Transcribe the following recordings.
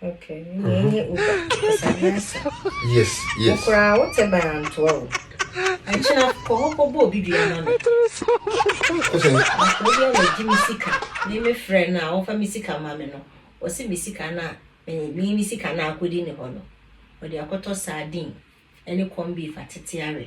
Okay, mm-hmm. yẹn yẹ uba ẹsàmì asa. Yes, yes. Okura awo tẹ bẹn antoa o. Ẹnkyina kọ hɔ kọ bọ obi dua ma mi. Akọrọ bi a na di mi sika ní mi frẹ na wọn fa mi sika ma mi no. Wọ́n sì mi sika na mi mi sika na akọ di ni hɔ no. Wọ́n di akɔtɔ sardine ɛne corn beef atete awɛ.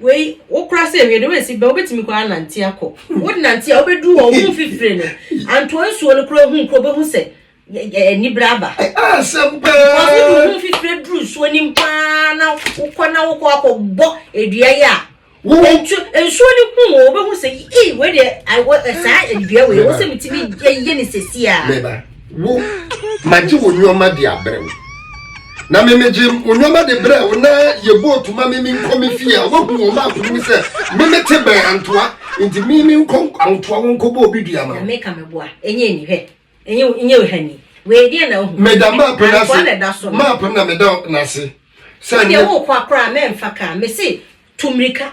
Wei wo kora sɛ ewie de wo esi bɛ wobɛtumi kora anante akɔ wo de nante a wobɛdu hɔ wo mfifire no antoa nsuo no kora hu kora wobɛhu sɛ anibere aba wɔsodu ho mfifire duru nsuo nim paa na wokɔ na wokɔ akɔ bɔ edua yi a nsuo no hu wɔ wobɛhu sɛ ee wei deɛ saa edua wei wɔ sɛ metumi yɛ ne sɛsi a Wo, magye wo nnoɔma de abrɛ wo. Na me megye wo nnoɔma de brɛɛ wo na yɛbɔɔ tu ma me menkɔ me fie a woahu wɔn baako no mu sɛ me mete bɛn antoa nti me menkɔ antoa wo nkɔbɔ obi dua ma wo. Nyame ka me boa, ɛnyɛ ni hwɛ, ɛnyɛ wo ha ni. Wei deɛ na wohu. Meda map no ase, map no na meda no ase. Wodeɛ wokɔ a koraa mɛmfa kaa, mese tu mmirika.